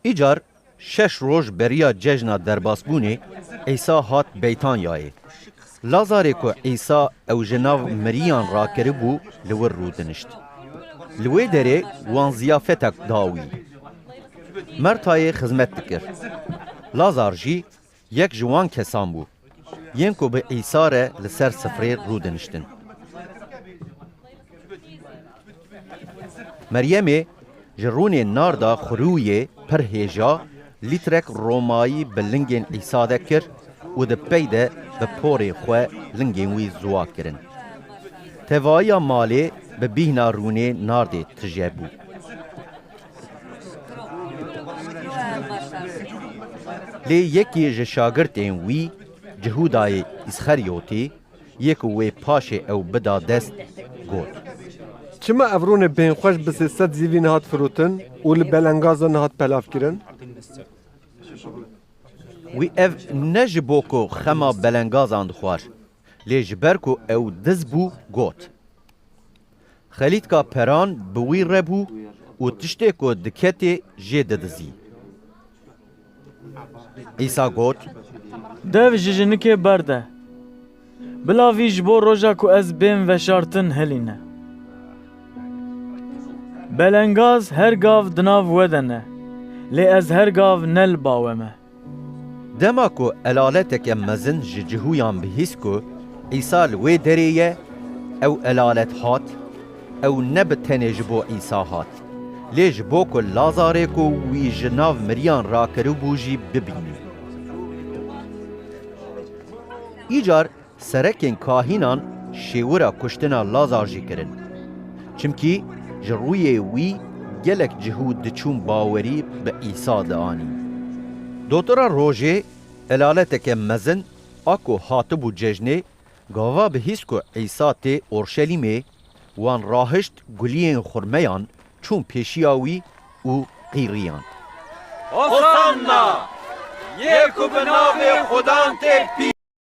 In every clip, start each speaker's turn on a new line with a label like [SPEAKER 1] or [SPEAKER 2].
[SPEAKER 1] Îcar şeş roj beriya cejna derbasbûnê Îsa hat Beytanyayê. Lazarê ku Îsa ew ji nav miriyan rakiribû li wir rûdinişt. Li wê derê wan ziyafetek da wî. Mertayê xizmet dikir. Lazar jî Yek ji wan kesan bû yên ku bi Îsa re li ser sifrê rûdiniştin. Meryemê ji rûnê narda xurûyê pir hêja lîtrek romayî bi lingên Îsa de kir û di pey de bi porê xwe lingên wî ziwa kirin. Tevayiya malê bi bîhna rûnê nardê tije bû. Lê yekê ji şagirtên wî Cihûdayê Îsxerîyotî yê ku wê paşê ew bida dest got. Çima ev rûnê bênxweş bi sê sed zîvî nehat firotin û li belengaza nehat pelavkirin? Wî ev ne ji bo ku xema belengazan dixwar, lê ji ber ku ew diz bû got. Xelîtka peran bi wî re bû û tiştê ku diketê jê didizî. Îsa got. Dev ji jinikê berde. Bila vî ji bo roja ku ez bên veşartin hilîne. Belengaz her gav di nav we de ne, lê ez her gav ne li bawe me. Dema ku elaleteke mezin ji cihûyan bihîst ku Îsa li wê derê ye, ew elalet hat, ew ne bi tenê ji bo Îsa hat, lê ji bo ku Lazarê ku wî ji nav miriyan rakiribû jî bibînî. Îcar Serekên kahînan şêwira kuştina Lazar jî kirin. Çimkî ji rûyê wî gelek cih û diçûn bawerî bi Îsa dianîn. Dotora rojê, helaleteke mezin a ku hatibû cejnê, gava bi hîs ku Îsa tê Orşelîmê, wan rahişt guliyên xurmeyan çûn pêşiya wî û qîriyand. Hosanna! Yê ku bi navê Xudan tê pî!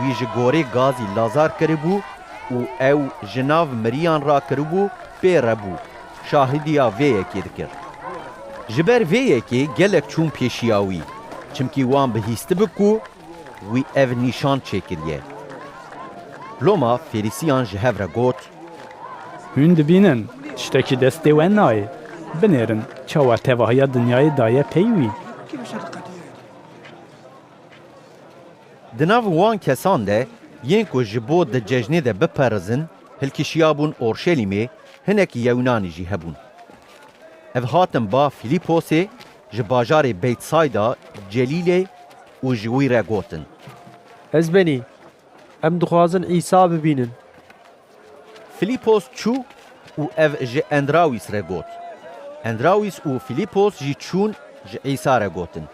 [SPEAKER 1] Wî ji gorê gazî lazar kiribû û ew ji nav miriyan re kiribû pê re bû, şahidiya vê yekê dikir. Ji ber vê yekê gelek çûm pêşiya wî, çimkî wan bihîstibik ku Wî ev nîşan çêkiriye. Loma fêrîsiyan ji hev re got. Hûn dibînin tiştekî destê we nayê. Binêrin çawa tevahiya dinyayê daye pey wî. Di nav wan kesan de yên ku ji bo di cejnê de biperizin hilkişiyabûn Orşelîmê hinek Yewnanî jî hebûn. Ev hatin ba Fîlîposê Ji bajarê Beytsayda Celîlê û ji wî re gotin. Ez benî. Em dixwazin Îsa bibînin. Filîpos çû û ev ji Endrawîs re got. Endrawîs û Filîpos jî çûn ji Îsa re gotin.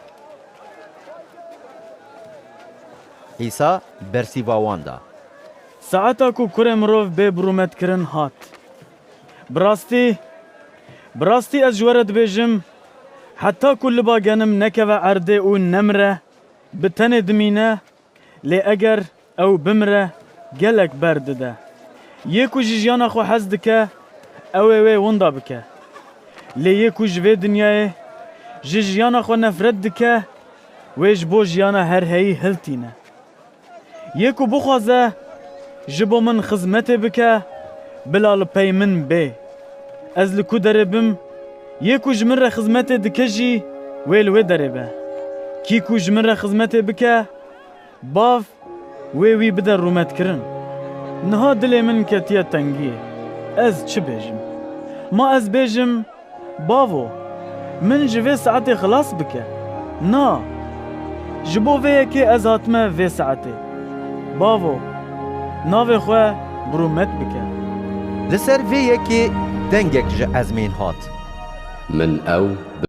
[SPEAKER 1] Îsa bersîva wan da. Saeta ku Kurê Mirov bê birûmet kirin hat. Bi rastî, bi rastî ez ji we re dibêjim, heta ku liba genim nekeve erdê û nemire, bi tenê dimîne, lê eger ew bimire gelek ber dide. Yê ku ji jiyana xwe hez dike, ew ê wê winda bike. Lê yê ku ji vê dinyayê, ji jiyana xwe nefret dike, wê ji bo jiyana herheyî hiltîne. Yê ku bixwaze ji bo min xizmetê bike, bila li pey min bê. Ez li ku derê bim, yê ku ji min re xizmetê dike jî wê li wê derê be. Kî ku ji min re xizmetê bike, Bav wê wî bide rûmetkirin. Niha dilê min ketiye tengiyê, ez çi bêjim? Ma ez bêjim, Bavo, min ji vê saetê xilas bike. Na, ji bo vê yekê ez hatime vê saetê. Bavo, navê xwe bi rûmet bike. Li ser vê yekê dengek ji ezmên hat. Min ew bi.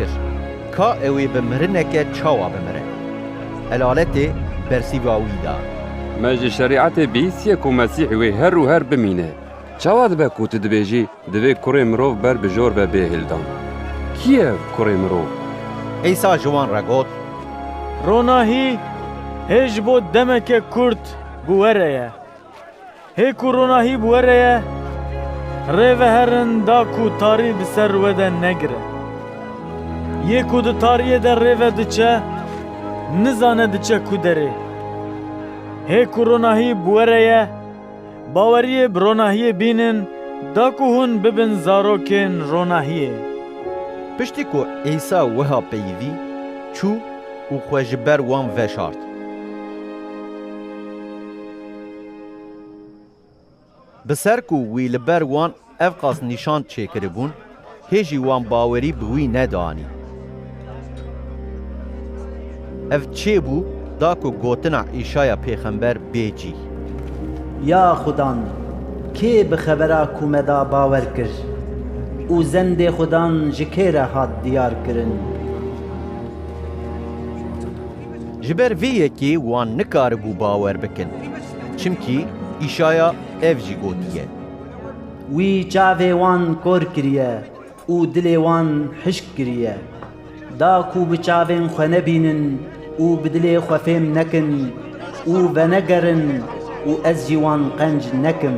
[SPEAKER 1] kir. Ka ewê bi mirineke çawa bimire? Helaletê bersîva wî da. Me ji şerîetê bihîstiye ku Mesîh wê her û her bimîne. Çawa dibe ku tu dibêjî divê Kurê Mirov ber bi jor be bêhêldan? Kî ye ev Kurê Mirov? Îsa ji wan re got. Ronahî hê ji bo demeke kurt bi we re ye. Hê ku rona hîb were ye, rê veherin da ku tarî bi ser we de negire. Yê ku di tariyê de rê ve diçe, nizane diçe ku derê. Hê ku rona hîb were ye, baweriyê bi ronahiyê bînin da ku hûn bibin zarokên ronahiyê. Piştî ku Îsa wiha peyivî, çû û xwe ji ber wan veşart. Bi ser ku wî li ber wan evqas nîşan çêkiribûn, hê jî wan bawerî bi wî nedanî. Ev çê bû da ku gotina Îşaya pêxember bê cîh. Ya Xudan, kê bi xebera ku me da bawer kir? Û zendê Xudan ji kê re hat diyarkirin? Ji ber vê yekê wan nikaribû bawer bikin, çimkî Îşaya ev jî gotiye. Wî çavê wan kor kiriye û dilê wan hişk kiriye. Da ku bi çavên xwe nebînin û bi dilê xwe fêm nekin û venegerin û ez jî wan qenc nekim.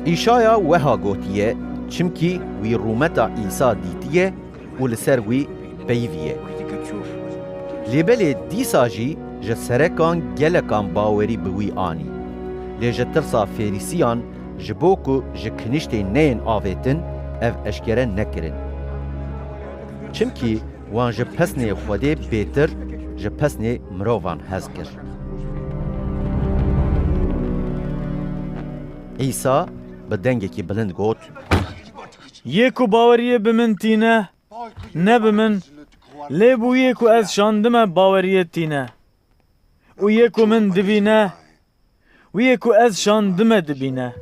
[SPEAKER 1] Îşaya weha gotiye, çimkî wî rûmeta Îsa dîtiye, û li ser wî peyivî ye. Lê belê dîsa jî ji serekan gelekan bawerî bi wî anî. Lê ji tirsa Fêrîsiyan ji bo ku ji kiniştê neyên avêtin ev eşkere nekirin. Çimkî wan ji pesnê Xwedê bêtir ji pesnê mirovan hez kir. Îsa bi dengekî bilind got. Yê ku baweriyê bi min tîne, ne bi min, lê bû yê ku ez şandime baweriyê tîne. Û yê ku min dibîne, wî yê ku ez şandime dibîne.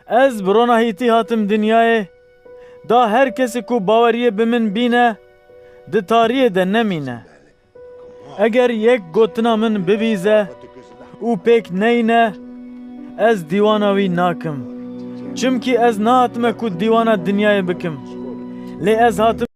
[SPEAKER 1] Ez bi rona hîtî hatim dinyayê, da her kesî ku baweriyê bi min bîne, di tariyê de nemîne. Eger yek gotina min bibîze û pêk neyne, ez dîwana wî nakim. Çimkî ez nehatime ku dîwana dinyayê bikim, lê ez hatime.